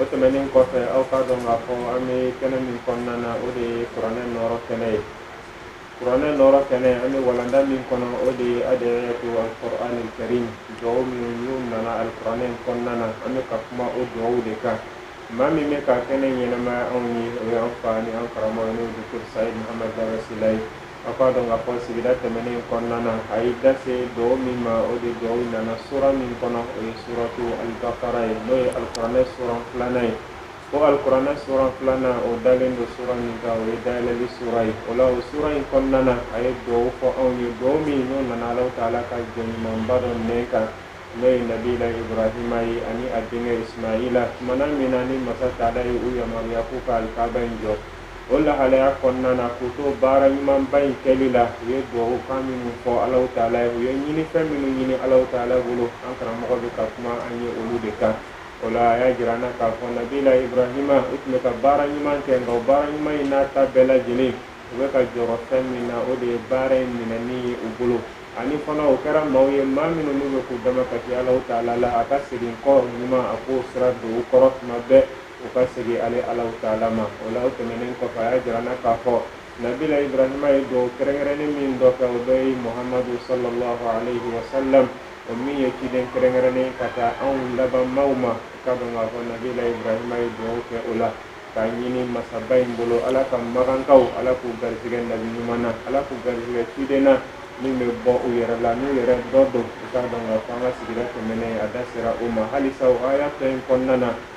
o tɛmɛnen kɔfɛ aw k'a dɔn k'a fɔ an bɛ kɛnɛ min kɔnɔna na o de ye kuranɛ nɔɔrɔ kɛnɛ ye kuranɛ nɔɔrɔ kɛnɛ an bɛ walanda min kɔnɔ o de ye ad'iyatu alqur'ani alkarim dugawu minnu n'u nana alikuranɛ in kɔnɔna na an bɛ ka kuma o dugawu de kan maa min bɛ ka kɛnɛ ɲɛnamaya anw ye o ye an fa ni an karamɔgɔ n'o ye docteur sayid mahamadu baba sila ye a k'a dɔn k'a fɔ sigida tɛmɛnen kɔnɔna na a ye da se duwawu min ma o de duwawu nana sura min kɔnɔ o ye suratu alibakara ye n'o ye alikuranɛ sura filanan ye o alikuranɛ sura filanan o dalen don sura min kan o ye dayɛlɛli sura ye o la o sura in kɔnɔna na a ye duwawu fɔ anw ye duwawu min n'o nana alahu taala ka jɔn ɲumanba dɔ nɛn kan n'o ye nabila ibrahima ye ani a denkɛ ismaila tumana min na ni masa taala ye u yamaruya k'u ka alikaba in jɔ o lahalaya kɔnɔna na k'u to baara ɲumanba in kɛli la u ye duwawukan minnu fɔ Alahu Taala ye u ye ɲinifɛn minnu ɲini Alahu Taala bolo an karamɔgɔ bɛ ka kuma an ye olu de kan o la a y'a jira an na k'a fɔ nabila Ibrahima u tun bɛ ka baara ɲuman kɛ nka o baara ɲuman in n'a ta bɛɛ lajɛlen u bɛ ka jɔrɔ fɛn min na o de ye baara in minɛni ye u bolo ani fana u kɛra maaw ye maa minnu n'u bɛ k'u damakasi Alahu Taala la a ka segin kɔ ɲuman a k'o sira don u kɔrɔ tuma bɛɛ u ka segin ale ala taala ma o la o tɛmɛnen kɔfɛ a y'a jira an na k'a fɔ nabila ibrahima ye duwawu kɛrɛnkɛrɛnnen min dɔ kɛ o dɔ ye muhamadu sallallahu alaihi wa sallam o min ye ciden kɛrɛnkɛrɛnnen ka taa anw laban maaw ma ka dɔn k'a fɔ nabila ibrahima ye dugawu kɛ o la k'a ɲini masaba in bolo ala ka makankaw ala k'u garijɛgɛ nabi ɲuman na ala k'u garijɛgɛ ciden na min bɛ bɔ u yɛrɛ la n'u yɛrɛ dɔ don u k'a dɔn k'a fɔ an ka sigida tɛmɛnen a da sera o ma halisa o aya fɛn in kɔnɔna na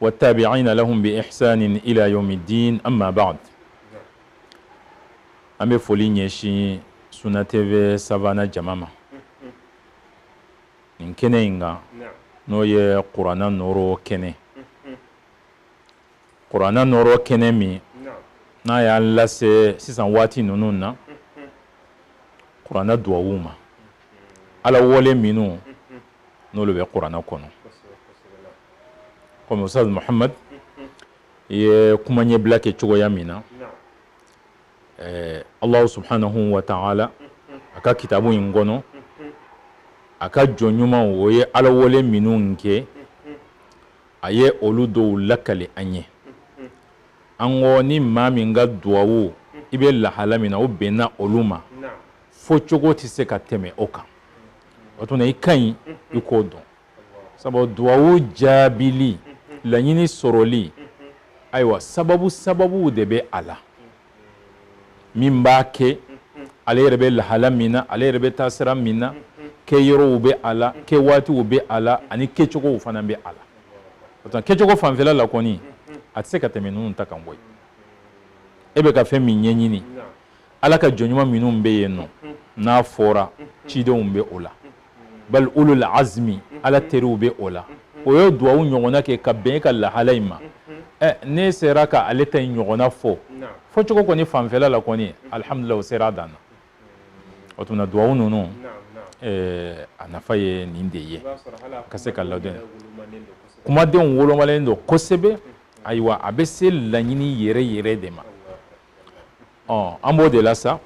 wattabi'ina lahum bi ihsanin ila yawmiddin amma ba'd an bɛ foli ɲɛsin Suna TV Savana jama ma nin kɛnɛ in kan n'o ye kuranna nɔɔrɔ kɛnɛ kuranna nɔɔrɔ kɛnɛ min n'a y'an lase sisan waati ninnu na kuranna duwawuw ma ala wele minnu n'olu bɛ kuranɛ kɔnɔ kɔmi ustaz muhamad ye kuma ɲɛbila kɛ cogoya min na alahu subhanahu wa taala a ka kitabu in kɔnɔ a ka jɔn ɲumanw ye ala wele minnu kɛ a ye olu dɔw lakali an ye yanko ni maa min ka duwawu i bɛ lahala min na o bɛnna olu ma fo cogo tɛ se ka tɛmɛ o kan o tuma i ka ɲi i k'o dɔn sabu duwawu jaabili laɲini sɔrɔli ayiwa sababu sababuw de bɛ a la min b'a kɛ ale yɛrɛ bɛ lahala min na ale yɛrɛ bɛ taa sira min na kɛ yɔrɔw bɛ a la kɛ waatiw bɛ a la ani kɛcogow fana bɛ a la o tuma kɛcogo fanfɛla la kɔni a tɛ se ka tɛmɛ ninnu ta kan koyi e bɛ ka fɛn min ɲɛɲini ala ka jɔn ɲuman minnu bɛ yen nɔ n'a fɔra cidenw bɛ o la bal ulul azmi ala teriw bɛ o la o ye duwawu ɲɔgɔnna kɛ ka bɛn ka lahala in ma ɛ ne sera ka ale ta in ɲɔgɔnna fɔ fɔcogo kɔni fanfɛla la kɔni alihamudulila o sera dan na o tuma duwawu ninnu a nafa ye nin de ye ka se ka ladɔn kumadenw wolomalen don kosɛbɛ ayiwa a bɛ se laɲini yɛrɛ yɛrɛ de ma ɔ an b'o de la sa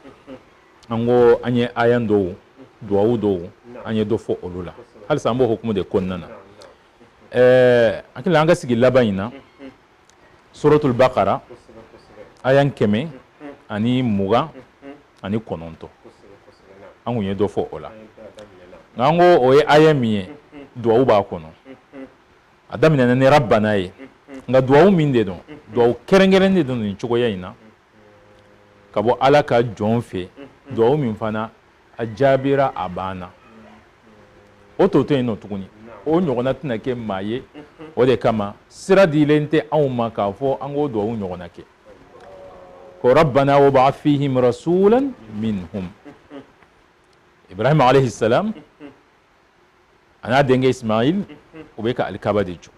an ko an ye aya dɔw duwawu dɔw an ye dɔ fɔ olu la halisa an b'o hukumu de kɔnɔna na ɛɛ hakili an ka sigi laban in na suratul bakara aya kɛmɛ ani mugan ani kɔnɔntɔn an kun ye dɔ fɔ o la nka an ko o ye aya min ye duwawu b'a kɔnɔ a daminɛna ni rabbana ye nka duwawu min de don duwawu kɛrɛnkɛrɛn de don nin cogoya in na ka bɔ ala ka jɔn fɛ duwawu min fana a jaabira a banna o tɔ tɛ yen nɔ tuguni o ɲɔgɔnna tɛna kɛ maa ye o de kama sira dilen tɛ anw ma k'a fɔ an k'o duwawu ɲɔgɔnna kɛ ko rabbana wab'ath fihim rasulan minhum ibrahima alayhi salam a n'a denkɛ ismail o bɛ ka alikaba de jɔ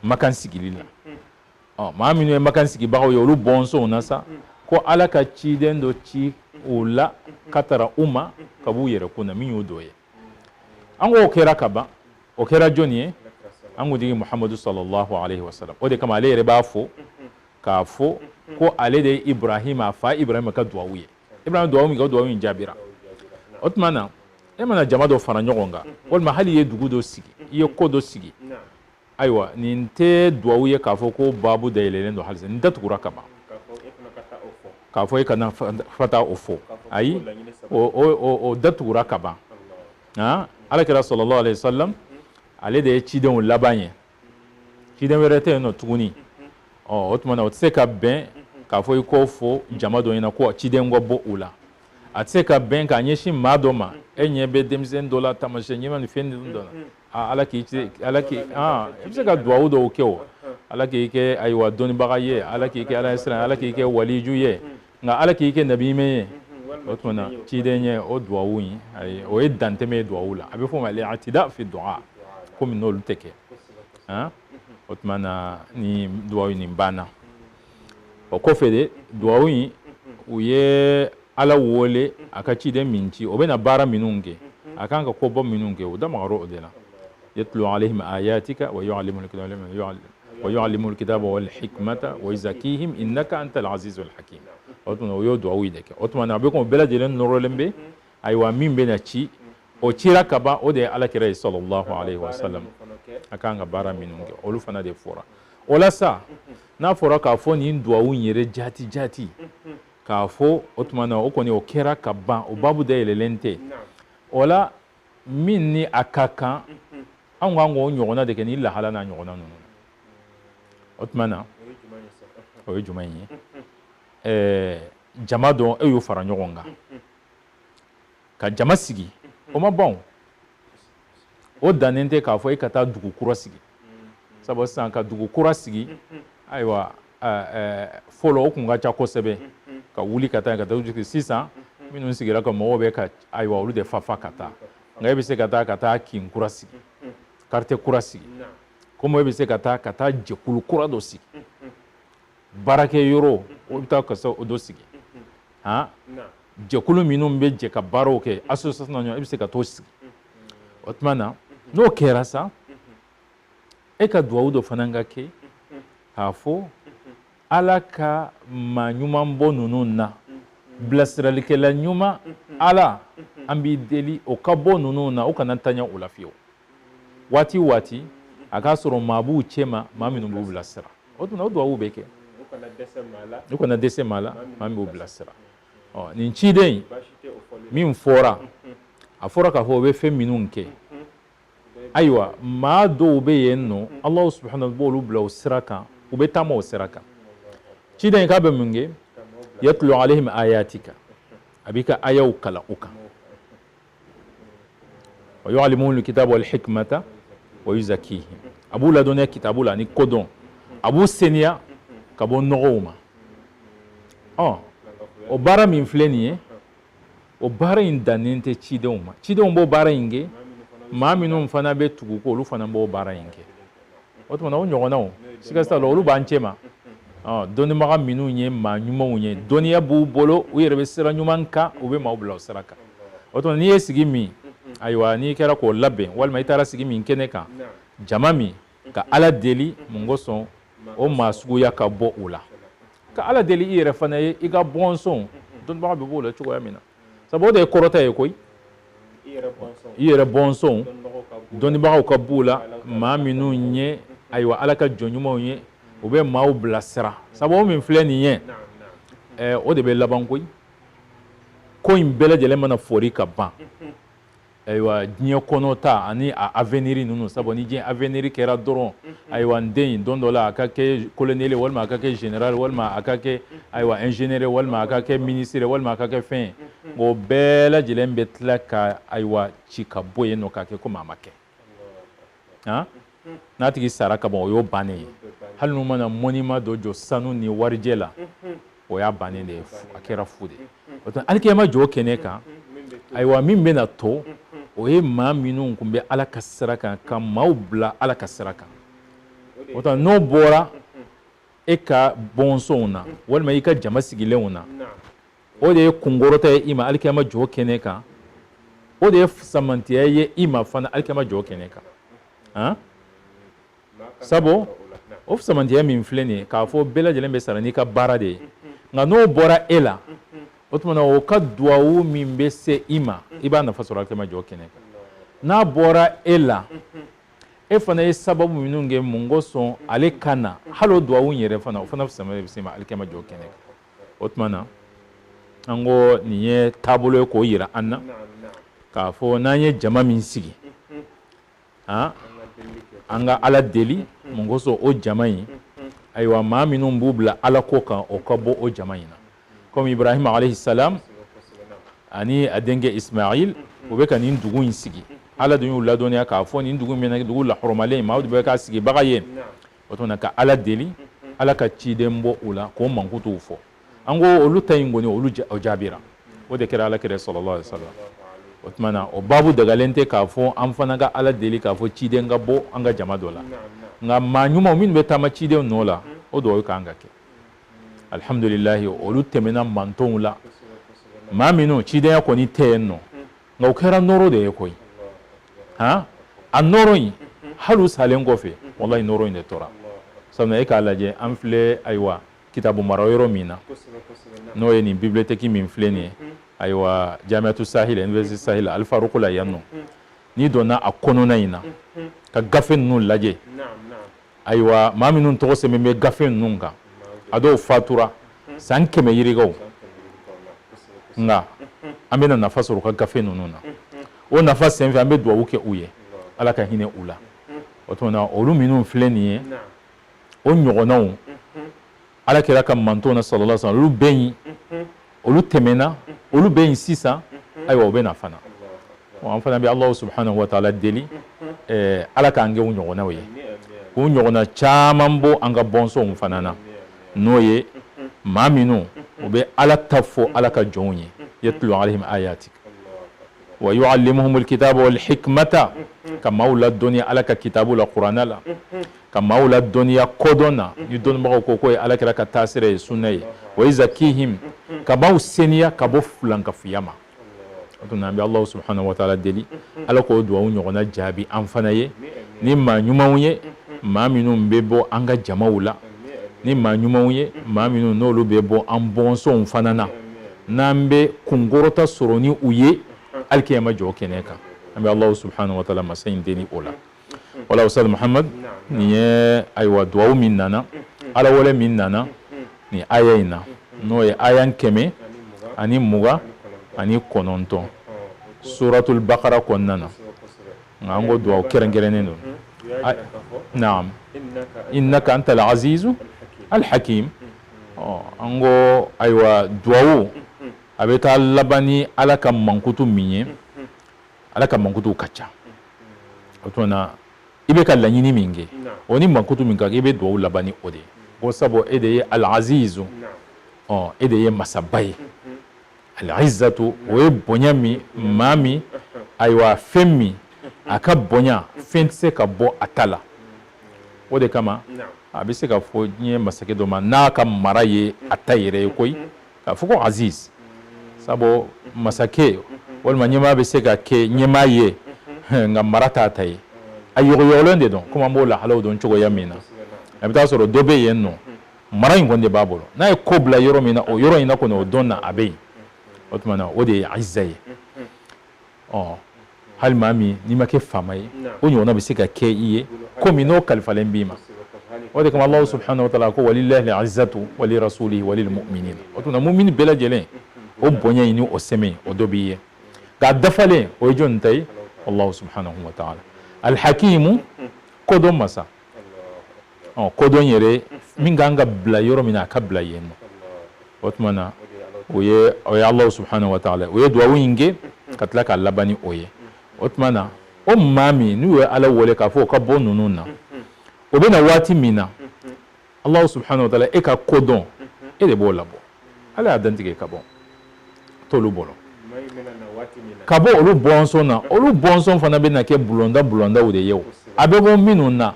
makan sigili la ɔ maa minnu ye makan sigibagaw ye olu bɔnsɔnw na sa ko ala ka ciden dɔ ci o la ka taga u ma ka b'u yɛrɛ kɔnɔ min y'o dɔ ye an ko o kɛra ka ban o kɛra jɔni ye an kuntigi muhamadu sallallahu alaihi wasallam o de kama ale yɛrɛ b'a fɔ k'a fɔ ko ale de ye ibrahima a fa ibrahima ka duwawu ye ibrahima duwawu min kɛ o duwawu in jaabira o tuma na e mana jama dɔ fara ɲɔgɔn kan walima hali i ye dugu dɔ sigi i ye ko dɔ sigi ayiwa nin tɛ duwawu ye k'a fɔ ko baabu dayɛlɛlen don halisa nin datugura ka ban k'a fɔ e kana fata o fɔ ayi o datugura ka ban ala kira sallallahu alaihi wasallam ale de ye cidenw laban ye ciden wɛrɛ tɛ yen nɔ tuguni ɔ o tuma na o tɛ se ka bɛn k'a fɔ i k'o fɔ jama dɔ ɲɛna ko ciden ka bɔ u la a tɛ se ka bɛn k'a ɲɛsin maa dɔ ma e ɲɛ bɛ denmisɛnnin dɔ la taamasiyɛn ɲuman ni fɛn ninnu dɔ la aa ala k'i kɛ ala k'i aa i bɛ se ka duwawu dɔw kɛ o ala k'i kɛ ayiwa dɔnnibaga ye ala k'i kɛ ala ɲɛsiran ala k'i kɛ waliju ye nka ala k'i kɛ nabi ɲuman ye o tuma na ciden ye o duwawu in ayi o ye dantɛmɛ ye duwawu la a bɛ fɔ o ma al itida fi duwa komi n'olu tɛ kɛ han o tuma na ni duwawu in nin banna o kɔfɛ de duwawu in u ye ala wele a ka ciden min ci o bɛna baara minnu kɛ a kan ka koba minnu kɛ u da magara o de la yatlu alaihim ayatika wa yuallim wa yu'allimuhum alkitaba wal hikmata wa yuzakkihim innaka antal azizul hakim o tuma u y'o duwawu de kɛ o tuma na a bɛ kɔn o bɛɛ lajɛlen nɔrɔlen bɛ ayiwa min bɛ na ci o cira ka ban o de ye ala kira ye sallallahu alaihi wa sallam a kan ka baara minnu kɛ olu fana de fɔra o la sa n'a fɔra k'a fɔ nin duwawu in yɛrɛ jati jati k'a fɔ o tuma na o kɔni o kɛra ka ban o babu dayɛlɛlen tɛ o la min ni a ka kan an kan k'o ɲɔgɔnna de kɛ ni lahala n'a ɲɔgɔnna ninnu o tuma na o ye jumɛn ye ɛɛ jama don e y'o fara ɲɔgɔn kan ka jama sigi o ma ban o dannen tɛ k'a fɔ e ka taa dugu kura sigi sabu sisan ka dugu kura sigi ayiwa fɔlɔ o tun ka ca kosɛbɛ ka wuli ka taa ka taa sigi sisan minnu sigira ka mɔgɔw bɛ ka ayiwa olu de fafa ka taa nka e bɛ se ka taa ka taa kin kura sigi quartier kura sigi komi e bɛ se ka taa ka taa jɛkulu kura dɔ sigi baarakɛ yɔrɔ o bɛ taa ka o dɔ sigi han jɛkulu minnu bɛ jɛ ka baaraw kɛ association n'a ɲɔgɔn i bɛ se ka t'o sigi o tuma na n'o kɛra sa e ka duwawu dɔ fana ka kɛ k'a fɔ ala ka maa ɲuman bɔ ninnu na bilasiralikɛla ɲuman ala an b'i deli o ka bɔ ninnu na o kana tanya o la fiyewu waati o waati a k'a sɔrɔ maa b'u cɛma maa minnu b'u bilasira o tuma o duwawu bɛ kɛ u kana dɛsɛ maa la maa min b'u bilasira ɔ nin ciden in min fɔra a fɔra k'a fɔ o bɛ fɛn minnu kɛ ayiwa maa dɔw bɛ yen n'ala subahana b'olu bila o sira kan u bɛ taama o sira kan ciden in k'a bɛ mun kɛ yatlu alaihim ayatika a b'i ka ayaw kalan u kan wa yu'allimuhum alkitaba wal hikmata wa yuzakkihim a b'u ladɔnniya kitabu la ani kodɔn a b'u seniya ka bɔ nɔgɔw ma ɔ o baara min filɛ nin ye o baara in dannen tɛ cidenw ma cidenw b'o baara in kɛ maa minnu fana bɛ tugu u kɔ olu fana b'o baara in kɛ o tuma na o ɲɔgɔnnaw siga t'a la olu b'an cɛma dɔnnibaga minnu ye maa ɲumanw ye dɔnniya b'u bolo u yɛrɛ bɛ sira ɲuman kan u bɛ maaw bila o sira kan o tuma n'i ye sigi min ayiwa n'i kɛra k'o labɛn walima i taara sigi min kɛnɛ kan jama min ka ala deli mun kosɔn o maa suguya ka bɔ o la ka ala deli i yɛrɛ fana ye i ka bɔnsɔnw dɔnnibaga bɛ b'o la cogoya min na sabu o de kɔrɔta ye koyi i yɛrɛ bɔnsɔnw dɔnnibagaw ka b'u la maa minnu ye ayiwa ala ka jɔn ɲumanw ye u bɛ maaw bilasira sabu o min filɛ nin ye o de bɛ laban koyi ko in bɛɛ lajɛlen mana foori ka ban ayiwa diɲɛ kɔnɔ ta ani a aveniri ninnu sabu ni diɲɛ aveniri kɛra dɔrɔn ayiwa n den don dɔ la a ka kɛ koloneli walima a ka kɛ général walima a ka kɛ ayiwa ingénieur walima a ka kɛ ministre walima a ka kɛ fɛn ye o bɛɛ lajɛlen bɛ tila ka ayiwa ci ka bɔ yen nɔ k'a kɛ komi a ma kɛ n'a tigi sara ka ban o y'o bannen ye hali n'u mana monument dɔ jɔ sanu ni warijɛ la o y'a bannen de ye a kɛra fu de ye alikiyama jɔ kɛnɛ kan ayiwa min bɛna to o ye maa minnu tun bɛ ala ka sira kan ka maaw bila ala ka sira kan o tuma n'o bɔra e ka bɔnsɔnw na walima i ka jama sigilenw na o de ye kunkɔrɔta ye i ma alikiyama jɔ kɛnɛ kan o de ye fusamantiya ye i ma fana alikiyama jɔ kɛnɛ kan han sabu o fusamantiya min filɛ nin ye k'a fɔ bɛɛ lajɛlen bɛ sara n'i ka baara de ye nka n'o bɔra e la o tuma na o ka duwawu min bɛ se i ma i b'a nafa sɔrɔ alikiyama jɔ kɛnɛ kan n'a bɔra e la e fana ye sababu minnu kɛ mun kosɔn ale ka na hali o duwawu in yɛrɛ fana o fana sama bɛ se i ma alikiyama jɔ kɛnɛ kan o tuma na an ko nin ye taabolo ye k'o yira an na k'a fɔ n'an ye jama min sigi an ka ala deli mun kosɔn o jama in ayiwa maa minnu b'u bila ala ko kan o ka bɔ o jama in na kɔmi ibrahima alayhi salam ani a denkɛ ismail u bɛ ka nin dugu in sigi ala dun y'u ladɔnniya k'a fɔ nin dugu min na dugu lahɔrɔmalen maaw de bɛ k'a sigibaga ye o tuma ka ala deli ala ka ciden bɔ u la k'o mankutuw fɔ an ko olu ta in kɔni olu jaabira o de kɛra ala kira sallallahu alayhi wasallam o tuma na o baabu dagalen tɛ k'a fɔ an fana ka ala deli k'a fɔ ciden ka bɔ an ka jama dɔ la nka maa ɲumanw minnu bɛ taama ciden nɔ la o dugawu kan ka kɛ alihamudulilayi olu tɛmɛna mantonw la maa minnu cidenya kɔni tɛ yen nɔ nka o kɛra nɔrɔ de ye koyi han a nɔrɔ in hali u salen kɔfɛ walayi nɔrɔ in de tora sabu e k'a lajɛ an filɛ ayiwa kitabu mara yɔrɔ min na n'o ye nin bibiliyotɛki min filɛ nin ye ayiwa jamiatu sahil université sahel alifaruku la yan nɔ n'i donna a kɔnɔna in na ka gafe ninnu lajɛ ayiwa maa minnu tɔgɔ sɛbɛn bɛ gafe ninnu kan a dɔw fatura san kɛmɛ yirikaw nka an bɛna nafa sɔrɔ u ka gafe ninnu na o nafa senfɛ an bɛ duwawu kɛ u ye ala ka hinɛ u la o tuma na olu minnu filɛ nin ye o ɲɔgɔnnaw ala kira ka mantonw na sallallahu alaihi wasallam olu bɛ yen olu tɛmɛna olu bɛ yen sisan ayiwa o bɛ na fana an fana bɛ alahu subahanahu wa taala deli ala k'an kɛ u ɲɔgɔnnaw ye k'u ɲɔgɔnna caman bɔ an ka bɔnsɔnw fana na n'o ye maa minnu u bɛ ala ta fɔ ala ka jɔnw ye yatlu alaihim ayatika wa yu'allimuhumul kitaba wal hikmata ka maaw ladɔnniya ala ka kitabu la kuranɛ la ka maaw ladɔnniya kodɔn na ni dɔnnibagaw ko k'o ye alakira ka taasira ye sunna ye wa yuzakkihim ka maaw seniya ka bɔ fulankafuya ma o tuma an bɛ alahu subahanahu wa taala deli ala k'o duwawu ɲɔgɔnna jaabi an fana ye ni maa ɲumanw ye maa minnu bɛ bɔ an ka jamaw la ni maa ɲumanw ye maa minnu n'olu bɛ bɔ an bɔnsɔnw fana na n'an bɛ kunkɔrɔta sɔrɔ ni u ye alikiyama jɔ kɛnɛ kan an bɛ alahu subahanahu wa taala masa in deli o la wala ustaz muhammad nin ye ayiwa duwawu min nana ala wele min nana nin aya in na n'o ye aya kɛmɛ ani mugan ani kɔnɔntɔn suratul bakara kɔnɔna na nka an ko duwawu kɛrɛnkɛrɛnnen don naam innaka anta al azizu al hakim an ko ayiwa duwawu a bɛ taa laban ni ala ka mankutu min ye ala ka mankutuw ka ca o tuma na i bɛ ka laɲini min kɛ o ni mankutu min ka kan i bɛ duwawu laban ni o de ye ko sabu e de ye alazizu ɔ e de ye masaba ye alizatu o ye bonya min maa min ayiwa fɛn min a ka bonya fɛn tɛ se ka bɔ a ta la o de kama a bɛ se ka fɔ diɲɛ masakɛ dɔ ma n'a ka mara ye a ta yɛrɛ ye koyi k'a fɔ ko aziz sabu masakɛ walima ɲɛmaa bɛ se ka kɛ ɲɛmaa ye nka mara t'a ta ye a yɔgɔyɔgɔlen de don komi an b'o lahalaw dɔn cogoya min na a bɛ taa sɔrɔ dɔ bɛ yen nɔ mara in kɔni de b'a bolo n'a ye ko bila yɔrɔ min na o yɔrɔ in na kɔni o don na a bɛ yen o tuma na o de ye izza ye ɔ hali maa min n'i ma kɛ faama ye o ɲɔgɔnna bɛ se ka kɛ i ye komi n'o kalifalen b'i ma o de kama Alahu subahana wa taala ko walilahi lizatu wali rasulihi walil muminina o tuma mumini bɛɛ lajɛlen o bonya in ni o sɛmɛ o dɔ b'i ye nka a dafalen o ye jɔni ta ye Alahu subahana wa taala alihakimu kodɔn masa ɔ kodɔn yɛrɛ min kan ka bila yɔrɔ min na a ka bila yen nɔ o tuma na o ye o ye Alahu subahanahu wa taala u ye duwawu in kɛ ka tila k'a laban ni o ye o tuma na o maa min n'u ye Ala wele k'a fɔ o ka bɔ ninnu na o bɛ na waati min na alahu subahana wa taala e ka kodɔn e de b'o labɔ ala y'a dantigɛ ka bɔ t'olu bolo ka bɔ olu bɔnsɔn na olu bɔnsɔn fana bɛ na kɛ bulonda bulondaw de ye o a bɛ bɔ minnu na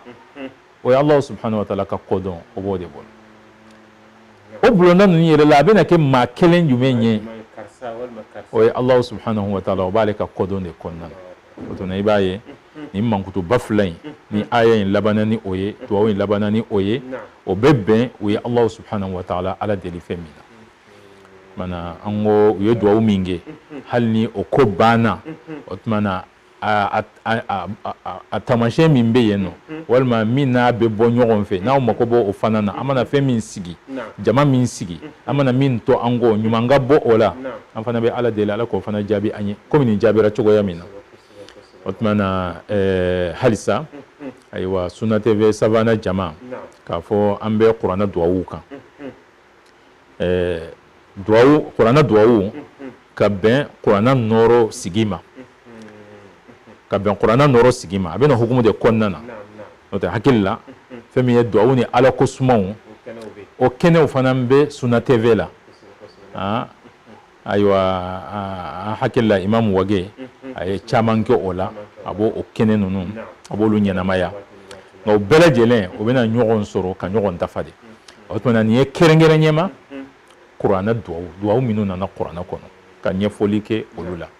o ye alahu subahana wa taala ka kodɔn o b'o de bolo o bulonda ninnu yɛrɛ la a bɛna kɛ maa kelen jumɛn ye o ye alahu subahanahu wa taala o b'ale ka kodɔn de kɔnɔna na o tuma i b'a ye nin mankutuba fila in ni aya in labanna ni o ye duwawu in labanna ni o ye o bɛ bɛn u ye Alahu subahanahu wa taala Ala deli fɛn min na maana an ko u ye duwawu min kɛ hali ni o ko banna o tuma na a taamasiyɛn min bɛ yen nɔ walima min n'a bɛ bɔ ɲɔgɔn fɛ n'an mako b'o o fana na an mana fɛn min sigi jama min sigi an mana min to an kɔ ɲuman ka bɔ o la an fana bɛ ala deli ala k'o fana jaabi an ye komi nin jaabira cogoya min na o tuma na eh, halisa ayiwa suna tv savana jama k'a fɔ an bɛ kuranɛ duwawu kan eh, duwawu kuranɛ duwawu ka bɛn kuranɛ nɔrɔ sigi ma ka bɛn kuranna nɔrɔ sigi ma a bɛna hukumu de kɔnɔna na n'o tɛ hakili la fɛn min ye duwawu ni ala ko sumaw o kɛnɛw fana bɛ suna tv la ayiwa an hakili la imamu wage a ye caman kɛ o la a b'o o kɛnɛ ninnu a b'olu ɲɛnamaya nka o bɛɛ lajɛlen o bɛna ɲɔgɔn sɔrɔ ka ɲɔgɔn dafa de o tuma nin ye kɛrɛnkɛrɛn ɲɛma kuranɛ duwawu duwawu minnu nana kuranɛ kɔnɔ ka ɲɛfɔli kɛ olu la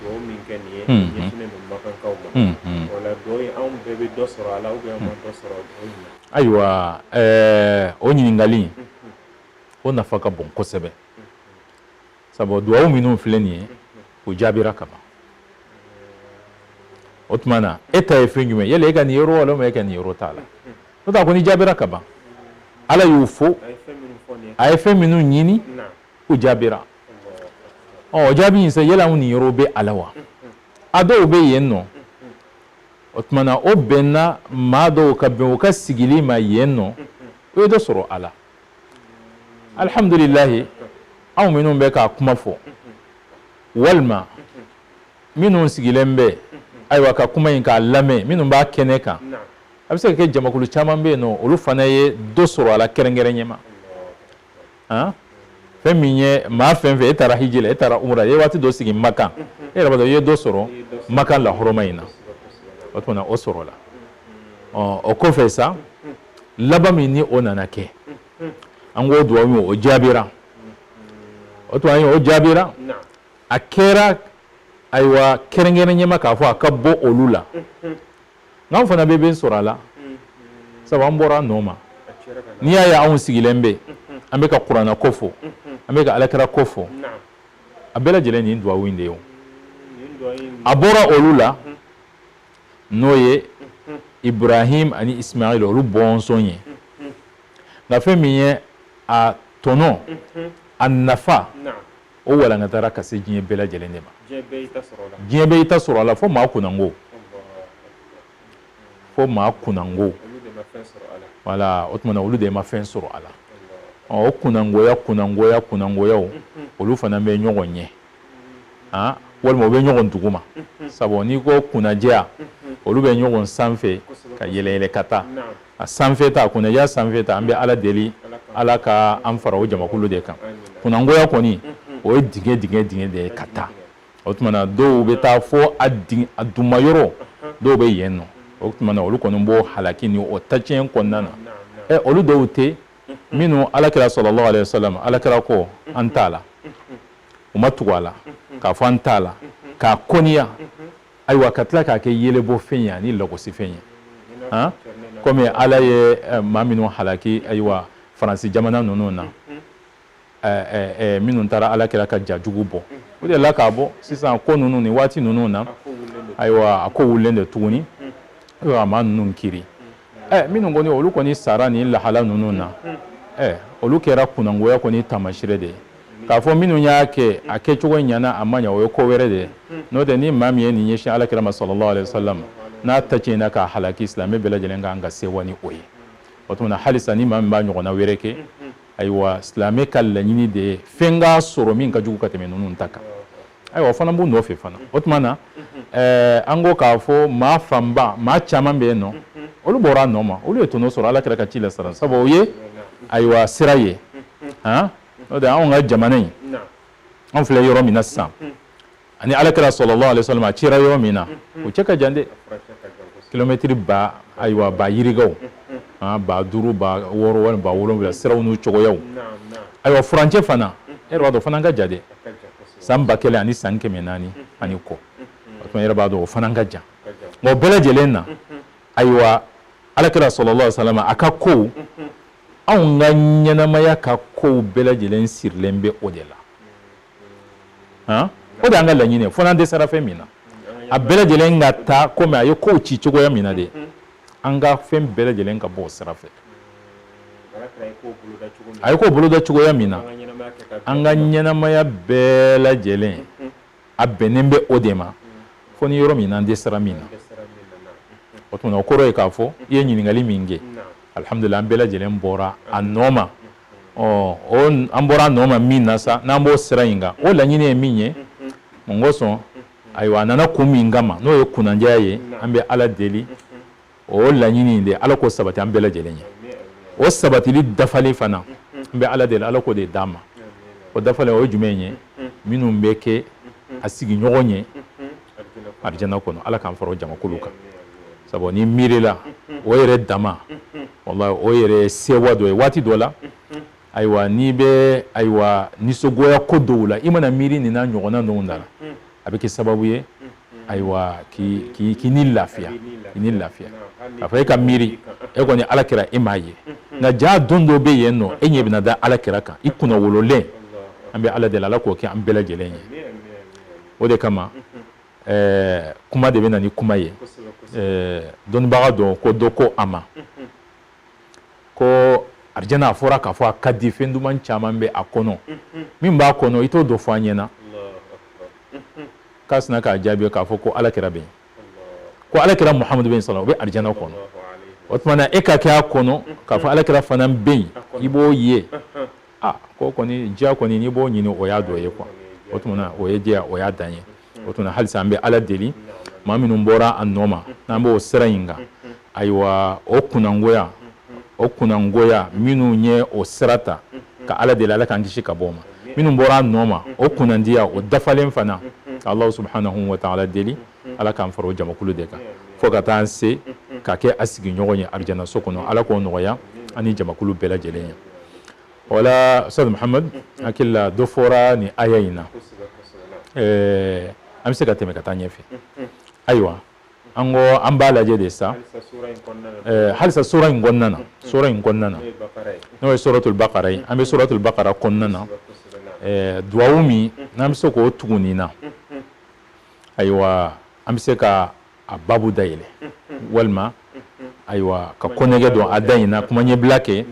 dugawu min kɛ nin ye Unhun ɲɛsinnen don makankaw ma Unhun o la dugawu in anw bɛɛ bɛ dɔ sɔrɔ a la ou bien an ma dɔ sɔrɔ dugawu in na ayiwa ɛɛ o ɲininkali in o nafa ka bon kosɛbɛ sabu dugawu minnu filɛ nin ye o jaabira ka ban o tuma na e ta ye fɛn jumɛn y'a la e ka niyɔrɔ walima e ka niyɔrɔ t'a la n'o tɛ a kɔni jaabira ka ban ala y'u fo a ye fɛn minnu ɲini o jaabira o jaabi in sa yala anw niyɔrɔ bɛ a la wa a dɔw bɛ yen nɔ o tuma na o bɛnna maa dɔw ka bɛn o ka sigili ma yen nɔ o ye dɔ sɔrɔ a la alihamudulilayi anw minnu bɛ k'a kuma fɔ walima minnu sigilen bɛ ayiwa ka kuma in k'a lamɛn minnu b'a kɛnɛ kan a bɛ se ka kɛ jamakulu caman bɛ yen nɔ olu fana ye dɔ sɔrɔ a la kɛrɛnkɛrɛn ɲɛma fɛn min ye maa fɛn fɛn e taara hiji la e taara umra e ye waati dɔ sigi makan e yɛrɛ b'a dɔn i ye dɔ sɔrɔ makan lahɔrɔma in na o tuma na o sɔrɔla o kɔfɛ sa laban min ni o nana kɛ an k'o dugawu min o jaabira o duwa in o jaabira a kɛra ayiwa kɛrɛnkɛrɛn ɲɛma k'a fɔ a ka bɔ olu la nk'anw fana bɛ fɛn sɔrɔ a la sabu an bɔra a nɔ ma n'i y'a ye anw sigilen bɛ an bɛ ka kuranɛ ko fɔ an bɛ ka alakira ko fɔ a bɛɛ lajɛlen nin duwawu in de ye a bɔra olu la n'o ye ibrahim ani ismail olu bɔnsɔn ye nka fɛn min ye a tɔnɔ a nafa o walankatara ka se diɲɛ bɛɛ lajɛlen de ma diɲɛ bɛɛ i ta sɔrɔ a la fo maa kunango fo maa kunango wala o tuma na olu de ma fɛn sɔrɔ a la o kunangoya kunangoya kunangoya olu fana bɛ ɲɔgɔn ɲɛ aa walima u bɛ ɲɔgɔn duguma sabu n'i ko kunnajɛya olu bɛ ɲɔgɔn sanfɛ ka yɛlɛ yɛlɛ ka taa a sanfɛ ta kunnajɛya sanfɛ ta an bɛ ala deli ala ka an fara o jamakulu de kan kunangoya kɔni o ye dingɛ dingɛ dingɛ de ye ka taa o tuma na dɔw bɛ taa fo a duguma yɔrɔ dɔw bɛ yen nɔ o tuma na olu kɔni b'o halaki ni o tacɛn kɔnɔna na ɛ olu dɔw tɛ minnu alakira sallallahu alaihi wasallam alakira ko an t'a la u ma tugu a la k'a fɔ an t'a la k'a kɔniya ayiwa ka tila k'a kɛ yelebɔ fɛn ye ani lagosi fɛn ye han komi ala ye eh, maa minnu halaki ayiwa faransi jamana ninnu na eh, eh, minnu taara alakira ka ja jugu bɔ o de la k'a bɔ sisan ko ninnu ni waati ninnu na ayiwa a ko wulilen de tuguni ayiwa a maa ninnu kiri minnu kɔni olu kɔni sara ni lahala ninnu na olu kɛra kunangoya kɔni taamasire de ye k'a fɔ minnu y'a kɛ a kɛcogo ɲana a ma ɲa o ye ko wɛrɛ de ye n'o tɛ ni maa min ye nin ɲɛsin alakira ma sallallahu alaihi wasallam n'a tacɛnna k'a halaki silamɛ bɛɛ lajɛlen kan ka sɛwa ni o ye o tuma na halisa ni maa min b'a ɲɔgɔnna wɛrɛ kɛ ayiwa silamɛ ka laɲini de ye fɛn k'a sɔrɔ min ka jugu ka tɛmɛ ninnu ta kan ayiwa o fana b'u nɔfɛ fana o tuma na ɛɛ an ko k'a fɔ maa fanba maa caman bɛ yen nɔ olu bɔra a nɔ ma olu ye tɔnɔ sɔrɔ alakira ka ci la sara sabu o ye ayiwa sira ye han n'o tɛ anw ka jamana in anw filɛ yɔrɔ min na sisan ani ala kira sallallahu alaihi wasallam a cira yɔrɔ min na o cɛ ka jan dɛ kilomɛtiri ba ayiwa ba yirikaw ba duuru ba wɔɔrɔ walima ba wolonwula siraw n'u cogoyaw ayiwa furancɛ fana e yɛrɛ b'a dɔn o fana ka jan dɛ san ba kelen ani san kɛmɛ naani ani kɔ o tuma e yɛrɛ b'a dɔn o fana ka jan nka o bɛɛ lajɛlen na ayiwa ala kira sallallahu alaihi wasallam a ka kow anw ka ɲɛnamaya ka kow bɛɛ lajɛlen sirilen bɛ o de la han o de y'an ka laɲini ye fo n'an dɛsɛra fɛn min na a bɛɛ lajɛlen ka taa komi a ye kow ci cogoya min na de an ka fɛn bɛɛ lajɛlen ka bɔ o sira fɛ a ye kow boloda cogoya min na an ka ɲɛnamaya bɛɛ lajɛlen a bɛnnen bɛ o de ma fo ni yɔrɔ min n'an dɛsɛra min na o tuma na o kɔrɔ ye k'a fɔ i ye ɲininkali min kɛ alihamudulila an bɛɛ lajɛlen bɔra a nɔ ma ɔ an bɔra a nɔ ma min na sa n'an b'o sira in kan o laɲini ye min ye mun kosɔn ayiwa a nana kun min kama n'o ye kunnandiya ye an bɛ ala deli o laɲini de ala k'o sabati an bɛɛ lajɛlen ye o sabatili dafali fana an bɛ ala deli ala k'o de d'an ma o dafali o ye jumɛn ye minnu bɛ kɛ a sigiɲɔgɔn ye arjana kɔnɔ ala k'an fara jamakulu kan sabu n'i miirila o yɛrɛ dama wallahi o yɛrɛ sewa dɔ ye waati dɔ la ayiwa n'i bɛ ayiwa nisɔngoya ko dɔw la i mana miiri nin n'a ɲɔgɔnna ninnu na a bɛ kɛ sababu ye ayiwa k'i ni lafiya k'a fɔ e ka miiri e kɔni ala kira e m'a ye nka jaa don dɔ bɛ yen nɔ e ɲɛ bɛna da ala kira kan i kunnawololen an bɛ ala deli ala k'o kɛ an bɛɛ lajɛlen ye o de kama kuma de bɛ na ni kuma ye dɔnnibaga dɔ ko dɔ ko a ma ko arjana a fɔra k'a fɔ a ka di fɛn duman caman bɛ a kɔnɔ min b'a kɔnɔ i t'o dɔ fɔ an ɲɛna k'a sinna k'a jaabi k'a fɔ ko ala kira bɛ yen ko ala kira muhamadu bɛ sɔrɔ o bɛ arjana kɔnɔ o tuma na e ka kɛ a kɔnɔ k'a fɔ ala kira fana bɛ yen i b'o ye aa ko kɔni diya kɔni n'i b'o ɲini o y'a dɔ ye quoi o tuma na o ye diya o y'a dan ye o tuma na halisa an bɛ ala deli maa minnu bɔra a nɔ ma n'an b'o sira in kan ayiwa o kunnangoya o kunnangoya minnu ye o sira ta ka ala deli ala k'an kisi ka bɔ o ma minnu bɔra a nɔ ma o kunnandiya o dafalen fana ka allahu subhanahu wa ta'ala deli ala k'an fara o jamakulu de kan fo ka taa an se ka kɛ a sigiɲɔgɔn ye arijanaso kɔnɔ ala k'o nɔgɔya ani jamakulu bɛɛ lajɛlen ye wala ustaz muhamad hakili la dɔ fɔra nin aya in na an bɛ se ka tɛmɛ ka taa ɲɛfɛ ayiwa an ko an b'a lajɛ de sa halisa sura in kɔnɔna na sura in kɔnɔna na n'o ye suratul bakara ye an bɛ suratul bakara kɔnɔna na duwawu min n'an bɛ se k'o tugu nin na ayiwa an bɛ se ka a babu da yɛlɛ walima ayiwa ka kɔnnɛgɛ don a da in na kuma ɲɛbila kɛ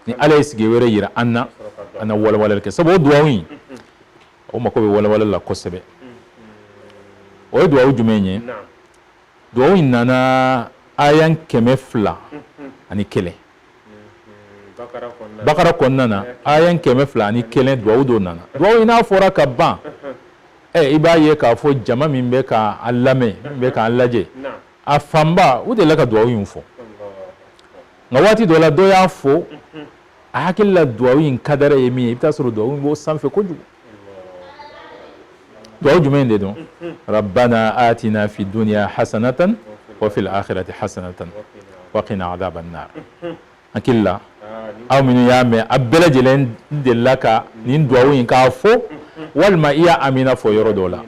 ni ala ye sigi wɛrɛ yira an na an na walawalali kɛ sabu o duwawu in o mako bɛ walawalali la kosɛbɛ o ye duwawu jumɛn ye duwawu in nana aya kɛmɛ fila ani kelen bakara kɔnɔna na aya kɛmɛ fila ani kelen duwawu dɔ nana duwawu in n'a fɔra ka ban i b'a ye k'a fɔ jama min bɛ k'an lamɛn min bɛ k'an lajɛ a fanba u delila ka duwawu in fɔ nka waati dɔ la dɔ y'a fɔ a hakili la duwawu in kadara ye min ye i bɛ taa sɔrɔ duwawu in b'o sanfɛ kojugu duwawu jumɛn de don rabbana atina fi duniya hasanatan wa fil akhirati hasanatan wa qina adhaban nar hakili la aw minnu y'a mɛn a bɛɛ lajɛlen delila ka nin duwawu in k'a fɔ walima i y'a amina fɔ yɔrɔ dɔ la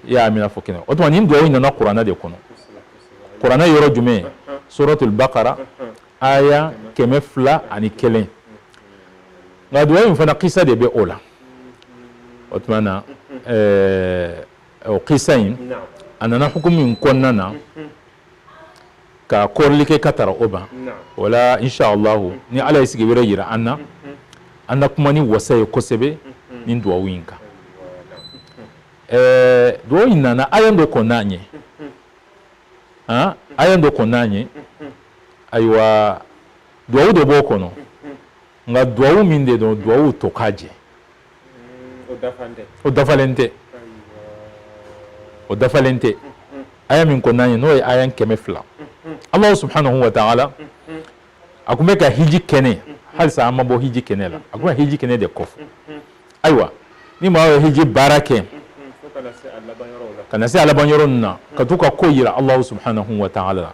i y'a amina fɔ kɛnɛ o tuma nin duwawu in nana kuranɛ de kɔnɔ kuranɛ yɔrɔ jumɛn suratul bakara aya kɛmɛ fila ani kelen nka duwawu in fana kisa de bɛ o la o tuma na ɛɛ o kisa in a nana hukumu in kɔnɔna na ka kɔrɔli kɛ ka tara o ban o la inshalahu ni ala ye sigi wɛrɛ yira an na an na kuma ni wasa ye kosɛbɛ nin duwawu in kan ɛɛ duwawu in nana aya dɔ kɔnna a ɲɛ aya dɔ kɔnna a ɲɛ ayiwa duwawu dɔ b'o kɔnɔ nka duwawu min de don duwawu tokajɛ o dafalen tɛ aya min kɔnna a ɲɛ n'o ye aya kɛmɛ fila alahu subhanahu wa ta'ala a kun bɛ ka hiji kɛnɛ halisa an ma bɔ hiji kɛnɛ la a kun bɛ hiji kɛnɛ de kofɔ ayiwa ni maa ye hiji baara kɛ ka na se a laban yɔrɔ ninnu na ka t'u ka ko yira alahu subhanahu wa ta'ala la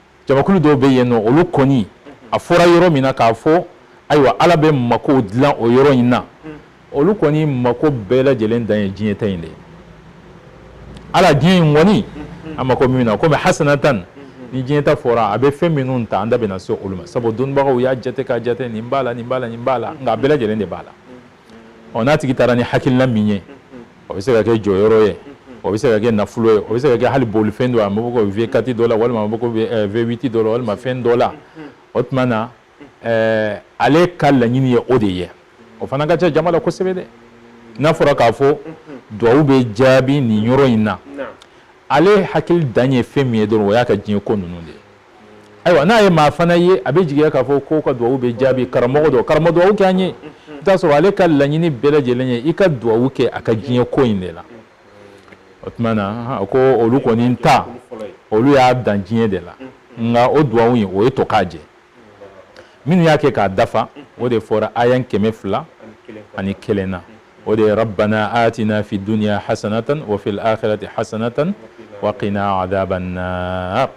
jamakulu dɔw bɛ yen nɔ olu kɔni a fɔra yɔrɔ min na k'a fɔ ayiwa ala bɛ mako dilan o yɔrɔ in na olu kɔni mako bɛɛ lajɛlen dan ye diɲɛ ta in de ye ala diɲɛ in kɔni a mako min na komi hasanatan ni diɲɛ ta fɔra a bɛ fɛn minnu ta an da bɛna se olu ma sabu dɔnnibagaw y'a jate k'a jate nin b'a la nin b'a la nin b'a la nka a bɛɛ lajɛlen de b'a la ɔ n'a tigi taara ni hakilina min ye o bɛ se ka kɛ jɔyɔrɔ ye o bɛ se ka kɛ nafolo ye o bɛ se ka kɛ hali bolifɛn dɔ a mako ko v kati dɔ la walima mako v witi dɔ la walima fɛn dɔ la o tuma na ale ka laɲini ye o de ye o fana ka ca jama la kosɛbɛ dɛ n'a fɔra k'a fɔ dugawu bɛ jaabi nin yɔrɔ in na ale hakili dan ye fɛn min ye dɔrɔn o y'a ka diɲɛ ko ninnu de ye ayiwa n'a ye maa fana ye a bɛ jigiya k'a fɔ ko ka dugawu bɛ jaabi karamɔgɔ don karamɔgɔ dugawu kɛ an ye i t'a sɔrɔ ale ka laɲini bɛɛ lajɛlen ye i ka dugawu kɛ a ka diɲɛ ko in de la o tuma na ko olu kɔni ta olu y'a dan diɲɛ de la nka o dugawu ye o ye to k'a jɛ minnu y'a kɛ k'a dafa o de fɔra aya kɛmɛ fila ani kelen na o de ye rabbana atina fi dunya hasanatan wa fil akhirati hasanatan wa qina adhaban nar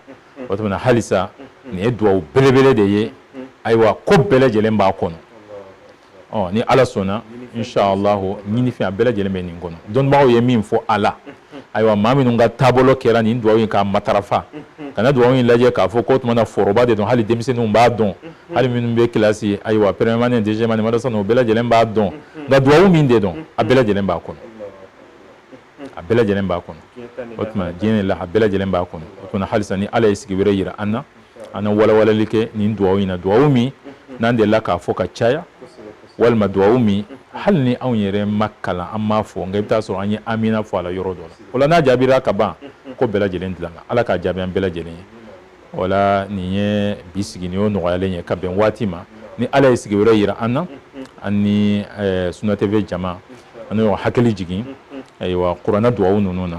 o tuma na halisa nin ye duwawu belebele de ye ayiwa ko bɛɛ lajɛlen b'a kɔnɔ ɔ ni ala sɔnna inshallahu ɲinifɛn a bɛɛ lajɛlen bɛ nin kɔnɔ dɔnnibagaw ye min fɔ a la ayiwa maa minnu ka taabolo kɛra nin dugawu in k'a matarafa kana dugawu in lajɛ k'a fɔ k'o tuma na foroba de don hali denmisɛnninw b'a dɔn hali minnu bɛ kilasi ayiwa première année deuxième année madarasa ninnu o bɛɛ lajɛlen b'a dɔn nka dugawu min de don a bɛɛ lajɛlen b'a kɔnɔ a bɛɛ lajɛlen b'a kɔnɔ o tuma diɲɛ la a bɛɛ lajɛlen b'a kɔnɔ o tuma na halisa ni ala ye sigi wɛrɛ yira an na an na walawalali kɛ nin dugawu in na dugawu min n'an delila k'a fɔ ka caya walima dugawu min hali ni anw yɛrɛ m'a kalan an m'a fɔ nka i bɛ taa sɔrɔ an ye amina fɔ a la yɔrɔ dɔ la o la n'a jaabira ka ban ko bɛɛ lajɛlen dilanna ala k'a jaabi an bɛɛ lajɛlen ye o la nin ye bi sigi nin y'o nɔgɔyalen ye ka bɛn waati ma ni ala ye sigi wɛrɛ yira an na an ni Sunna TV jama an y'o hakili jigin ayiwa kuranɛ dugawu ninnu na